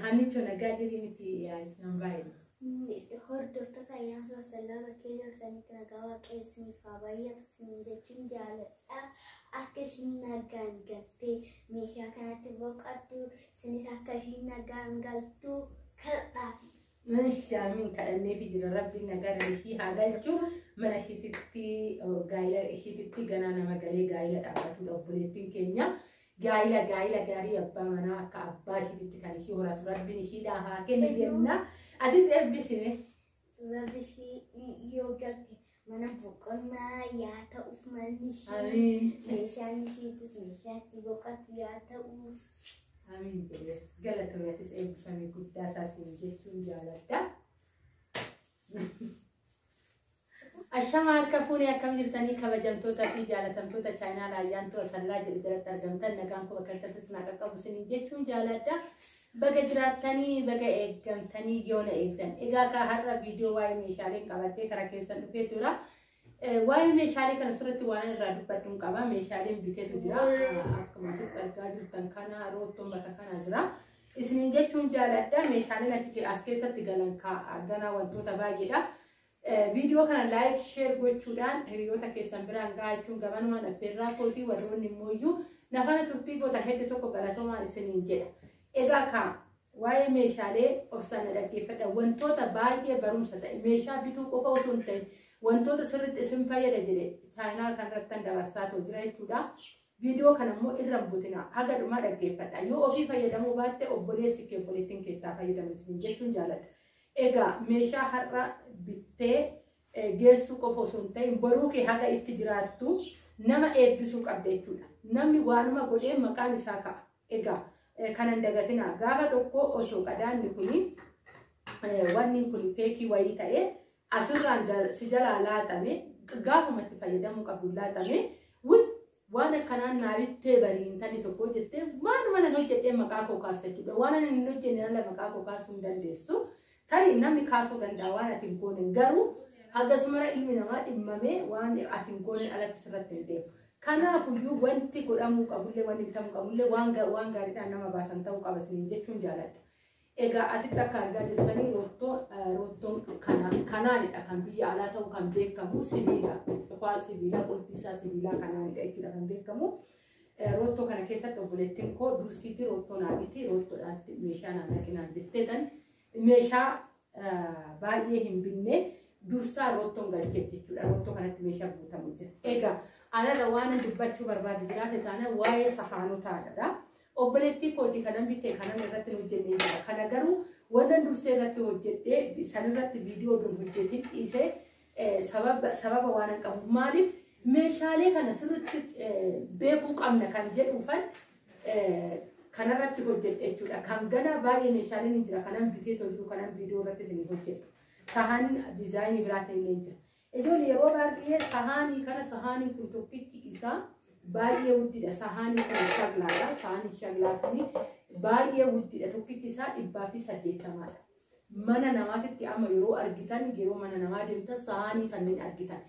Haanichoo nagaa jirii miti yaa'is nan baay'ina. Hordoftoota ayyaansa wasallaama keenya isaaniitti nagaa waaqayyo isiniif haa baay'atu isiniin jechuun jaaladha. Akka ishiin nagaan galtee meeshaa kanatti boqattu isinis akka ishiin nagaan galtu kadhaa. Masha min kadhannee fi jira rabbiin nagara ishii haa galchu mana ishiititti gaa'ila ishiititti ganaa nama galee gaa'ila dhaabbatudha obboleettiin keenya gaa'ila gaa'ila gaarii abbaa manaa akka abbaa ishiititti kan ishii horatu rabbiin ishiidhaa haa kennu jenna atis eebbisime. Rabbi ishii yoo galte Mana boqonnaa yaa ta'uuf manni ishii. Amiin. Meeshaan ishiitis meeshaa itti boqotu yaa ta'uuf. Amiin jedhee galatoomatis eebbifamii guddaa taasisu jechuun jaaladha. Ashama harka fuunee akkam jirtanii kabajamtoota fi jaalatamtoota chaayinaal ayyaantuu asallaa jedhu jalatti argamtan nagaan koo bakka irratti sinaa qaqqabu sinin jechuun jaaladha. Baga jiraattanii baga eeggamtanii yoo na eegdan. Egaa kaa har'a viidiyoo waa'ee meeshaalee qabattee karaa keessan dhufee tura. Waa'ee meeshaalee kana sirriitti waan irraa dubbadhuun qaba. Meeshaaleen biteetu jira. Akkuma asitti argaa jirtan kana roottoon bakka kana jira. Isinin jechuun jaaladha. Meeshaaleen as keessatti galan ganaa wantoota baay'eedha. Viidiyoo kana like share gochuudhaan hiriyoota keessan biraan gahaa jechuun gamanumaan affeerraa kootii warroonni immoo iyyuu nafana turtii goota heddu tokko galatoomaa isiniin jedha. Egaa kaa waa'ee meeshaalee obsaan na dhaggeeffadha wantoota baay'ee barumsa ta'e meeshaa bituu qofa osoo hin ta'in wantoota sirriitti isin fayyada jedhe chaayinaal kanarrattan dabarsaa too jira jechuudha. Viidiyoo kana immoo irra hin butina haga dhumaa dhaggeeffadha yoo ofii fayyadamuu baatte obboleessi kee obboleettiin keessaa fayyadamu isin jechuun jaaladha. Egaa meeshaa har'a bittee geessuu qofa osoo hin ta'in boruu kee haga itti jiraattu nama eebbisuu qabda jechuudha. Namni waanuma godheen maqaan isaa ka'a. Egaa kana hin dagatinaa. Gaafa tokko osoo qadaanni kuni wanni kun feekii wayii ta'ee asirraan si jalaa laatame gaafuma itti fayyadamuu qabdu laatame wul waan akkanaan naarittee barii intalli tokko jettee maaluma nan hojjedhee maqaa koo kaasta jechuudha waan ani hin hojjenne ala maqaa koo kaasuu hin dandeessu tarii namni kaasuu danda'a waan ati hin goone garuu hagasumara ilmi namaa dhimmamee waan ati hin goone alatti sirratti hin deemu. Kanaafuyyuu wanti godhamuu qabullee wanti bitamuu qabullee waan gaariidhaan nama baasan ta'uu qaba isiniin jechuun jaaladha. Egaa asitti akka argaa jirtanii roottoon kanaanidha kan biyya alaa ta'u kan beekamu sibiila qofaa sibiilaa qulfiisaa sibiilaa kanaanidha jechuudha kan beekamu. Roottoo kana keessatti obboleettiin koo dursiitii roottoo naadhiitii roottoodhaatti meeshaa naannaqinaan jetteetan meeshaa baay'ee hin binne dursaa roottoon galcheef jechuudha. Roottoo kanatti meeshaa guutamu jira. Egaa anarra waan dubbachuu barbaadu jiraate taana waa'ee sahaanotaadha. Obboleettii kootii kanan bite kanan irratti hin hojjenne jira. Kana garuu wannan dursee irratti hojjedhee san irratti viidiyoo oduu hin hojjetin dhiisee eh, sababa sababa waan hin qabuuf maaliif meeshaalee kana sirriitti eh, beekuu qabna kan jedhuufan eh, kanarratti hojjedhe jechuudha. Kan ganaa baay'ee meeshaaleen hin jira kanan bitee too jiru kanan viidiyoo irratti isin hojjedhu. Sahan diizaayinii biraatiin illee hin jira. Ijoolli yeroo baay'ee sahaanii kana sahaanii kun tokkichi isaa baay'ee guddidha. Sahaanii kun shaglaadha. Sahaanii shaglaa kun baay'ee guddidha. Tokkichi isaa dhibbaa fi saddeettamaadha. Mana namaatitti amma yeroo argitan yeroo mana namaa deemtan sahaanii kanneen argitan.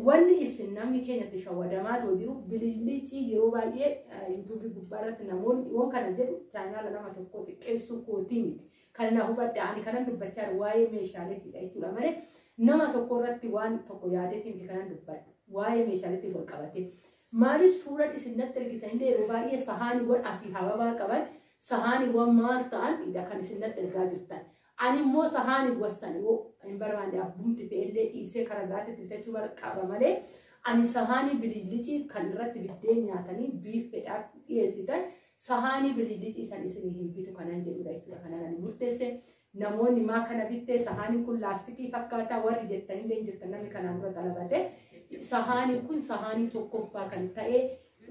Wanni isin namni keenyatti shawwadamaa ta'u jiru bilillichi yeroo baay'ee yuutuubii gubbaa irratti namoonni waan kana jedhu chaayinaala nama tokko xiqqeessuu kootii miti. Kana naa hubadhaa ani kanan dubbachaa jiru waa'ee meeshaaleetiidha jechuudha malee nama tokko irratti waan tokko yaadeetii miti kanan dubbadhu waa'ee meeshaaleetiin wal qabatee. Maaliif suuraan isin natti ergitan illee yeroo baay'ee sahaaniiwwan asii hababaa qaban sahaaniiwwan maal ta'an idha kan isin natti ergaa jirtan. Ani immoo sahaaniiwwan sana yoo hin barbaanne abbumti ta'e illee dhiisee karaa biraatti bitachuu barqaba malee ani sahaanii bililicii kan irratti biddeen nyaatanii biiffeedhaaf dhiyeessitan Sahaanii birriijii ciisan isinii hin bitu kanan jedhudha jechuudha kanan ani murteesse. Namoonni maa kana bittee sahaaniin kun laastikii fakkaata warri jettan illee hin jirtan namni kanaan dura xalabate. Sahaaniin kun sahaanii tokkoffaa kan ta'e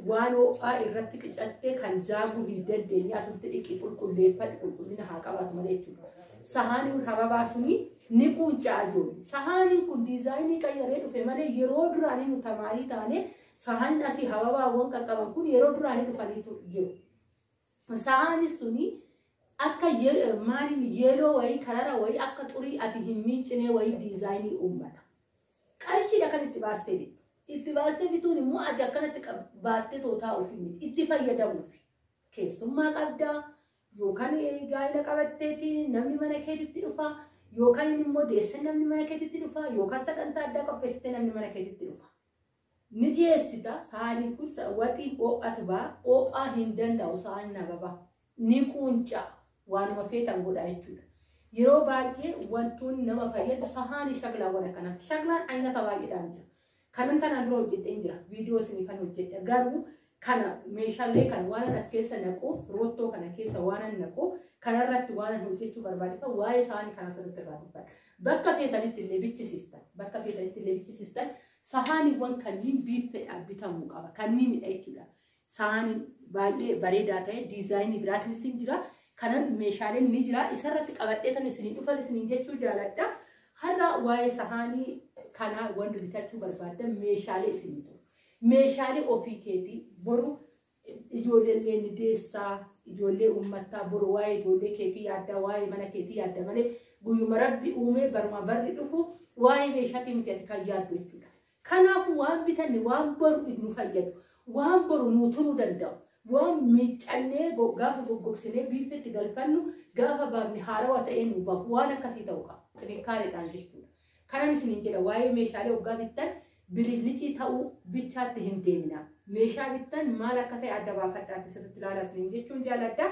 waan ho'aa irratti qicattee kan zaaguu hin dandeenye asutti dhiqii qulqulleeffadhu qulqullina haa qabaatu malee jechuudha. Sahaaniin hababaa suni ni quuncaa ijoollee. Sahaaniin kun diizaayinii qayyaree dhufe malee yeroo duraanii nu tamaarii taanee Sahanna fi hababaawwan qaqqaban kun yeroo duraa hin dhufanii tu- jiru. Sahaanis tuni akka ye- maaliin yeeloo wayii karara wayii akka xurii ati hin miicinee wayii diizaayinii uummata. Qarshiidha kan itti baastee bittu. Itti baastee bituun immoo ati akkanatti qab- baattee tootaa ofii miti. Itti fayyadamuuf. Keessummaa qabdaa yookaan eh, gaa'ela qabatteeti namni mana keetitti dhufa yookaan immoo deessan namni mana keetitti dhufa yookaan sagantaa addaa qopheessitee namni mana keetitti dhufa. ni dhiyeessita saaniin kun waxiin oo'atu ba oo'aa hin danda'u saan nababa ni quunca waanuma feetan godhaa jechuudha yeroo baay'ee wantoonni nama fayyadu sahaanii shaklaawwan akkanaatti shaklaan aynata baay'eedhaan jira kanan tanaan dura hojjedheen jira viidiyoo isinifan hojjedha garuu kana meeshaalee kana waanan as keessa naqu roottoo kana keessa waanan naqu kanarratti waanan hojjechuu barbaadudha waa'ee saanii kanas irratti irraa dubbadha bakka feetanitti illee bichisiistan bakka feetanitti illee bichisiistan Sahaaniiwwan kanniin biiffeedhaan bitamuu qaba. Kanniinidha jechuudha. Sahaaniin baay'ee bareedaa ta'e diizaayinii biraatiinis hin jira. Kanan meeshaaleen ni jira. Isarratti qabadhee tan isinii dhufan isiniin jechuu jaaladha. Har'a waa'ee sahaanii kanaa wanti bitachuu barbaaddan meeshaalee isinii ta'u. Meeshaalee ofii keetii boru Ijoollee illee ni deessaa, ijoollee uummattaa boru waa'ee ijoollee keetii yaaddaa, waa'ee mana keetii yaadda malee guyyuma rabbi uumee baruma barri dhufu waa'ee meeshaatii miti ati kan yaaddu jechuudha. Kanaafuu waan bitanne waan boru nu fayyadu, waan boru nuu turuu danda'u, waan miiccannee go- gaafa goggogsinee biiffetti galfannu gaafa baafne haarawa ta'ee nu bahu waan akkasii ta'uu qaba. Xinikkaareedhaan jechuudha. Kanan isiniin jedha waa'ee meeshaalee oggaa bittan biliclicii ta'uu bichaatti hin deeminaa. Meeshaa bittan maal akka ta'e adda baafadhaatti sirriitti ilaalaa isiniin jechuun jaaladha.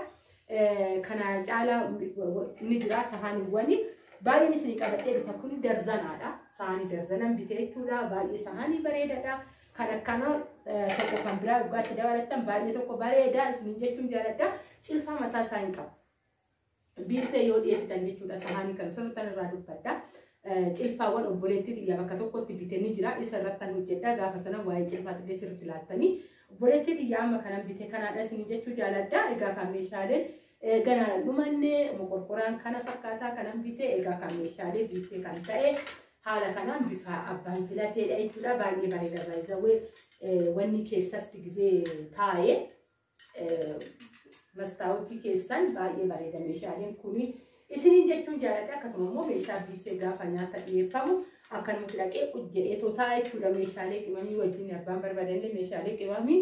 Kana caalaa ni jira sahaaniiwwan baay'een isinii qabadhee dhufa kun darzanaadha. Sahaanii darzanan bite jechuudha. Baay'ee sahaanii bareedaadha. Kan akkana tokko kan biraa oggaatti dabalattan baay'ee tokko bareeda isiniin jechuun jaaladha. Cilfaa mataa isaa hin qabu. biiffee yoo dhiyeessitan jechuudha sahaanii kan sirriittan irraa dubbadha. Cilfaawwan obboleettii xiyyaa bakka tokkotti bitanii jira isa irrattan hojjedha gaafa sana waa'ee cilfaa xillee sirriitti laattanii obboleettii xiyyaa amma kanan bite kanaadha isin jechuu jaaladha egaa kan meeshaaleen gana dhumanne moqorqoraan kana fakkaataa kanan bite egaa kan meeshaalee biiffee kan ta'e haala kanaan bifa abbaan filateedha jechuudha baay'ee bareeda baay'ee wanni keessatti gizee taa'ee. Mastaawutii keessan baay'ee bareeda meeshaaleen kuni isiniin jechuun jaalladha akkasuma immoo meeshaa biittee gaafa nyaata dhiyeeffamu akkanumatti dhaqee jedhee tootaa jechuudha meeshaalee qimamii wajjin abbaan barbaadannee meeshaalee qimamii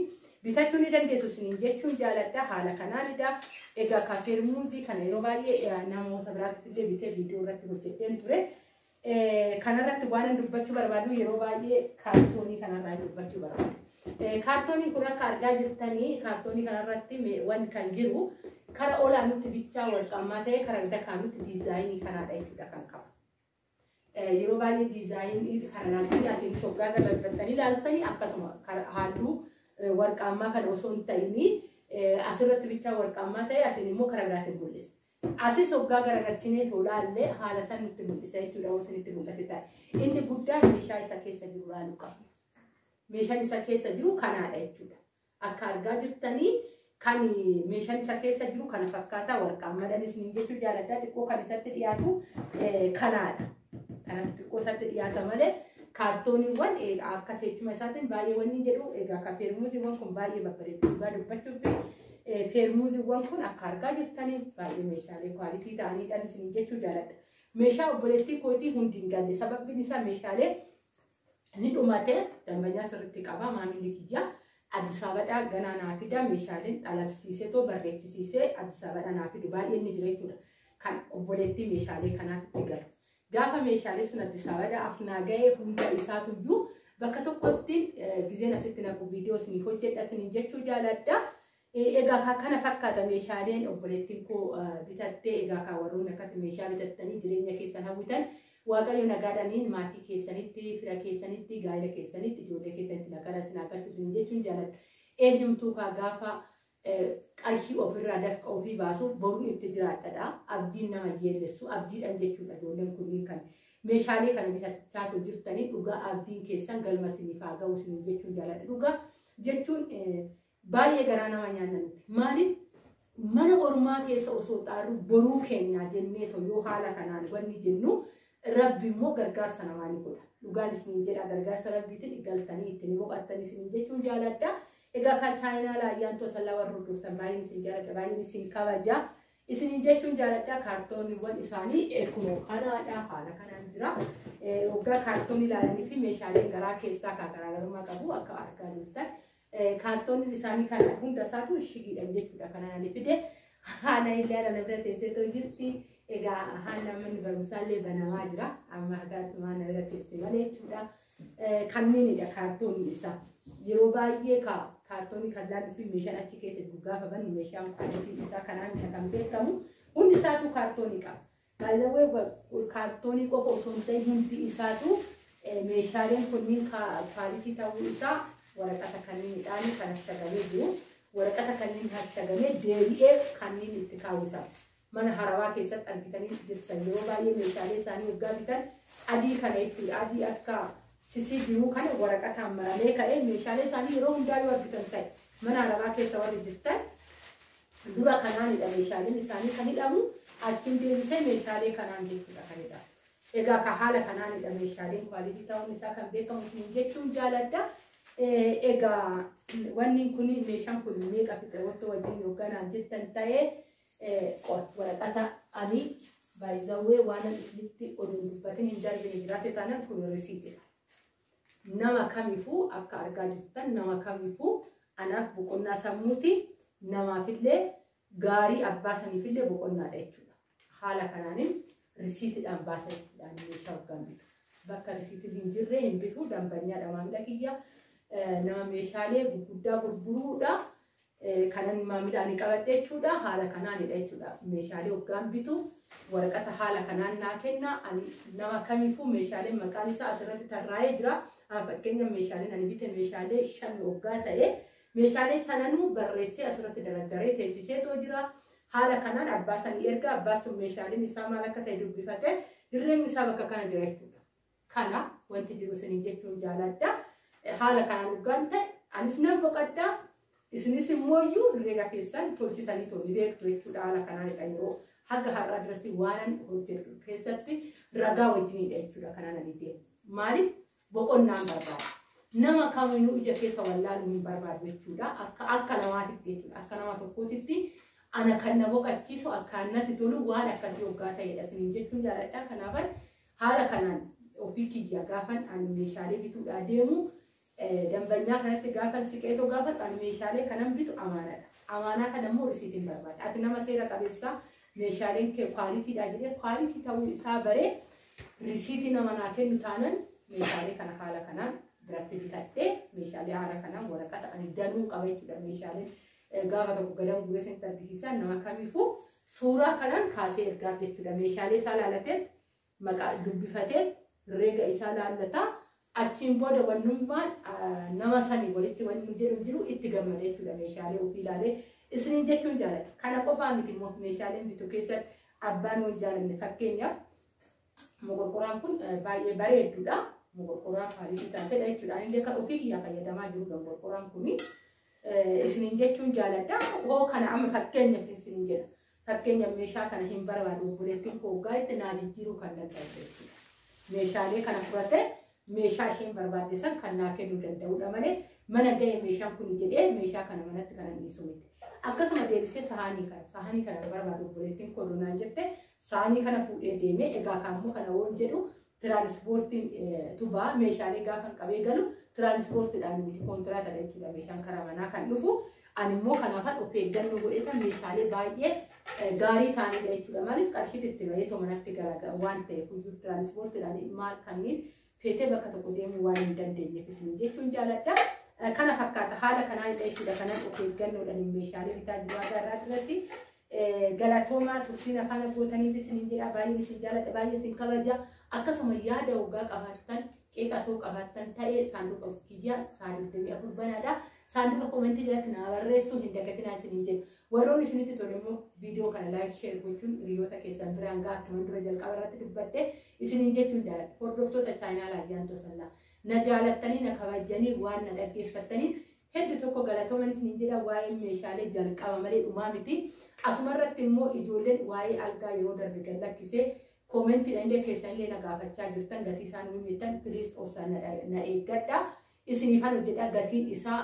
bitachuu ni dandeessu isiniin jechuun jaalladha haala kanaanidha egaa kaaseer muuzii kana yeroo baay'ee namoota biraatti illee bitee viidiyoo irratti hojjedheen ture Kanarratti waanan dubbachuu barbaadu yeroo baay'ee kaartoonii kanarraa dubbachuu barbaadu. Kaartoonii kun akka argaa jirtanii kaartoonii kanarratti wan kan jiru kara olaanitti bichaa wal qaamaa ta'e kara dakaanutti diizaayinii kanaadha jechuudha kan qabu. Yeroo baay'ee diizaayinii kana laaltanii asiin shoggaa galagaltanii laaltanii akkasuma halluu warqaamaa kana osoo hin ta'inii asirratti bichaa warqaamaa ta'e asiin immoo kara biraatiin mul'isa. Asis hoggaa garagarsineetoo laalle haala san nutti mul'isa jechuudha yoo isinitti mul'ate taate. Inni guddaan meeshaa isa keessa jiru laaluu qabna. Meeshaan isa keessa jiru kanaadha jechuudha. Akka argaa jirtanii kan meeshaan isa keessa jiru kana fakkaataa warqaan madan isiniin jechuu jaaladhaa xiqqoo kan isatti dhiyaatu kanaadha. Kan xiqqoo isatti dhiyaata malee kaartooniiwwan akka teechuma isaatiin baay'ee wanni jedhu egaa kapeermuuziiwwan kun baay'ee babbareedu dhugaa dubbachuuf Feermuuziiwwan kun akka argaa jirtanii baay'ee meeshaalee kwaalitii ta'aniidhaan isin jechuu jaaladha. Meeshaa obboleettii kootii hundi hin galle sababiin isaa meeshaalee ni dhumatee dambanyaa sirriitti qabaa maamilli kiyyaa Addis Ababaa ganaa naa fida meeshaaleen dhalabsiisee too barreechisiisee Addis Ababaa naa fidu baay'een ni jira jechuudha. Kan obboleettii meeshaalee kanaaf itti galu. Gaafa meeshaalee sun Addis Ababa as naa ga'e hunda isaatu iyyuu bakka tokkotti gizeen asitti naqu viidiyoo isiniif hojjedha isiniin jechuu jaaladha. Egaa kana fakkaata meeshaaleen obboleettiin koo bitattee egaa kaa warroonni akkatti meeshaa bitattanii jireenya keessan hawwitan waaqayyo nagaadhaniin maatii keessanitti fira keessanitti gaa'ela keessanitti ijoollee keessanitti nagaadhaan isin haa galchu isiniin jechuun jaaladha. Eenyumtuu kaa gaafa qarshii ofirraa dafqa ofii baasuuf boruun itti jiraadhadha. Abdiin nama hin yeellessu. Abdiidhaan jechuudha ijoolleen kunniin kan meeshaalee kana bitachaa tu jirtanii dhugaa abdiin keessan galma isiniif haa ga'u isiniin jechuun jaaladha. Dhugaa jechuun baay'ee garaa nama nyaanna nuti. Maaliif mana ormaa keessa osoo xaarru boruu keenyaa jennee too yoo haala kanaan wanni jennu rabbi immoo gargaarsa namaa ni godha. Dhugaan isiniin jedha gargaarsa rabbiitiin galtanii ittiin boqattanii isiniin jechuun jaaladha. Egaa kan chaayinaa laayyaan tosallaa warra hordoftan baay'een isin jaalladha baay'een isin kabaja. Isiniin jechuun jaalladha kaartooniiwwan isaanii kunoo kanaadha haala kanaan jira. Waggaa kaartoonii ilaalanii fi meeshaaleen garaa keessaa kan garaagarummaa qabu akka argaa jirtan. Kaartooniin isaanii kan hunda isaatu shigiidhan jechuudha kan ani fide. Haana illee ana bira teessee too jirti. Egaa haala manni barumsaa illee banamaa jira. Amma hagaatumaa na bira teessee malee jechuudha. Kanniinidha kaartoonni isaa. Yeroo baay'ee kaartoonni kan laaluu fi meeshaan achi keessa jiru gaafa bannu meeshaan kuwaalitiin isaa kanaan isa kan beekamu hundi isaatu kaartoonni qaba. Baay'ee kaartoonni qofa osoo hin ta'in hundi isaatu meeshaaleen kunniin kuwaalitii ta'uu isaa waraqata kanniinidhaan kan hashagamee jiru. Waraqata kanniin hashagamee deebi'ee kanniin itti kaawwisa. mana harawaa keessatti argitanii jirtan yeroo baay'ee meeshaalee isaanii waggaa bitan adii kana jechuudha adii akka sisii jiruu kana waraqataan maramee ka'ee meeshaalee isaanii yeroo hundaa yoo argitan ta'e mana harawaa keessa warri jirtan dura kanaanidha meeshaaleen isaanii kan hidhamu achiin deebisee meeshaalee kanaan jechuudha kan hidhamu. Egaa ka haala kanaanidha meeshaaleen kwaalitii ta'uun isaa kan beekamu kun jechuun jaaladha. Egaa wanni kun meeshaan kun meeqa fixe wanta wajjin hoogganaan jettan ta'ee Qoy waraqata ani baay'izawwee waanan isinitti oduun dubbatin hin darbine jiraate taanaan kun risiitidha. Nama kamifuu akka argaa jirtan nama kamifuu anaaf boqonnaa sammuuti namaafillee gaarii abbaa saniifillee boqonnaadha jechuudha. Haala kanaanin risiitidhaan baasa jechuudhaan meeshaa hoggaan bitu. Bakka risiitiin hin jirre hin bitu dambanyaa dhamaamila kiyya nama meeshaalee gurguddaa gurguruudha. Kanan maamila ani qabadhe jechuudha. Haala kanaanidha jechuudha. Meeshaalee hoggaan bitu waraqata haala kanaan naa kenna. Ani nama kamiifuu meeshaaleen maqaan isaa asirratti tarraa'ee jira. Amma fakkeenyaaf meeshaaleen ani bite meeshaalee shan hoggaa ta'e meeshaalee sananuu barreessee asirratti dardaree teessisee too jira. Haala kanaan abbaa sanii erga abbaa sun meeshaaleen isaa maal akka ta'e dubbifate dirreen isaa bakka kana jira jechuudha. Kana wanti jiru isiniin jechuun jaaladha. Haala kanaan dhugaan ta'e anis nan boqadha. Isinis immoo iyyuu herreega keessan tolchitanii too ni beektu jechuudha haala kanaanidha yeroo haga har'aa dirasii waanan hojjedhu keessatti ragaa wajjinidha jechuudha kanaan ani deemu. Maaliif boqonnaan barbaada? Nama kamiinuu ija keessa wallaaluu hin barbaadu jechuudha. Akka akka namaatitti jechuudha. Akka nama tokkootitti ana kan na boqachiisu akka natti tolu waan akkasii hoggaa ta'edha isiniin jechuun jaaladha. Kanaafan Haala kanaan ofii kiyyaa gaafan ani meeshaalee bituudhaa deemu dambanyaa kanatti gaafan siqeetoo gaafadhu ani meeshaalee kanan bitu amaanaadha. Amaanaa kana immoo risiitiin barbaada. Ati nama seera qabeessaa meeshaaleen kee kwaalitiidhaa jedhee kwaalitii ta'uu isaa baree risiitii nama naa kennu taanan meeshaalee kana haala kanaan biratti bitadhee meeshaalee haala kanaan waraqata ani danuu qaba jechuudha meeshaalee Ergaa akka tokko gadan guuree isinitti argisiisaa nama kamiifuu suuraa kanaan kaasee ergaaf jechuudha. Meeshaalee isaa laalatee maqaa dubbifatee reega isaa laallataa achiin booda wannummaa nama sanii walitti wanni jedhu jiru itti gammada jechuudha meeshaalee ofii ilaalee isiniin jechuun jaalata. Kana qofaa miti immoo meeshaaleen bitu keessatti abbaan wal jaalanne fakkeenyaaf Moqorqoraan kun baay'ee bareedduudha. Moqorqoraa faaliitii taatedha jechuudha. Anillee kan ofii kiyyaa fayyadamaa jiru moqorqoraan kun isiniin jechuun jaaladha. Hoo kana amma fakkeenyaaf isiniin jedha. Fakkeenyaaf meeshaa kana hin barbaadu obboleettiin koo hoggaa itti naa jijjiiruu kan danda'u jechuudha. Meeshaalee kana fudhatee meeshaa isheen barbaadde san kan naa kennuu danda'udha malee mana ga'e meeshaan kun jedhee meeshaa kana manatti kan dhiisu miti. Akkasuma deebisee sahaanii kana sahaanii kana barbaadu obboleettiin koo naan jette saanii kana fuudhee deemee egaa kaammoo kana woon jedhu tiraanispoortiin tubaa meeshaalee gaafan qabee galu tiraanispoortiidhaan miti kontiraatadha jechuudha meeshaan karaa manaa kan dhufu ani immoo kanaafan of eeggannoo godhetan meeshaalee baay'ee gaarii ta'anidha jechuudha maaliif qarshiitti itti bahee too manatti garaagara waan ta'eef iyyuu tiraanispoortiidhaan maal kanneen feetee bakka tokko deemuu waan hin dandeenyeef isin jechuun jaaladha. Eh, Kana fakkaata haala kanaa irra jechuudha kanan of eeggannoodhaan meeshaalee bitaa jiru aadaa irraa irratti eh, galatoomaa turtiin afaan abbootaniif isin jedha baay'een isin jaaladha baay'ee isin kabaja akkasuma yaada hoggaa qabaattan qeeqa osoo qabaattan ta'ee saanduqa kiyya saanduqni afur banaadha saanduqa komentii jalatti naa barreessuu hin dagatinaa isin jedhu warroon isinitti tole immoo viidiyoo kana laayik sheer gochuun hiriyoota keessan biraan ga'a akkuman dura jalqaba irratti dubbadhe Isiniin jechuun jaaladha. Hordoftoota chaayinaala Ayyaantuu Asallaa. Na jaalattanii, na kabajjanii, waan na dhaggeeffattaniif heddu tokko galatooman isiniin jedha waa'ee meeshaalee jalqaba malee dhumaa miti. Asuma irratti immoo ijoolleen waa'ee algaa yeroo darbe gad lakkisee koomentiidhaan illee keessan illee na gaafachaa jirtan gatii isaa nu himtan piliis obsaan na eeggadha. Isiniifan hojjedha gatiin isaa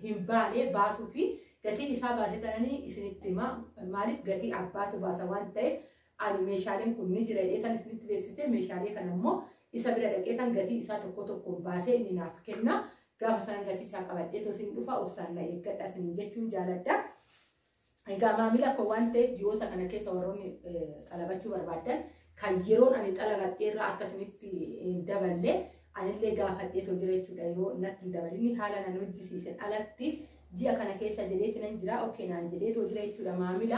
hin baane baasuu fi gatiin isaa baase tananii isinitti hima. Maaliif gatii abbaatu baasa waan ta'eef Ani meeshaaleen kun ni jira jedhee kan isinitti beeksisee meeshaalee kana immoo isa bira dhaqee kan gatii isaa tokko tokkoon baasee inni naaf kenna. Gaafa sana gatii isaa qabadhee tosin dhufa obsaan na eeggadha isin jechuun jaaladha. Egaa maamila koo waan ta'eef ji'oota kana keessa warroonni xalabachuu barbaadan kan yeroon ani xalabadhee irraa akka isinitti hin daballe anillee gaafadhee too jira jechuudha yeroo natti hin dabalinni haala nan hojjisiisen alatti ji'a kana keessa jedheeti nan jira okkee naan jedhee too jira jechuudha maamila.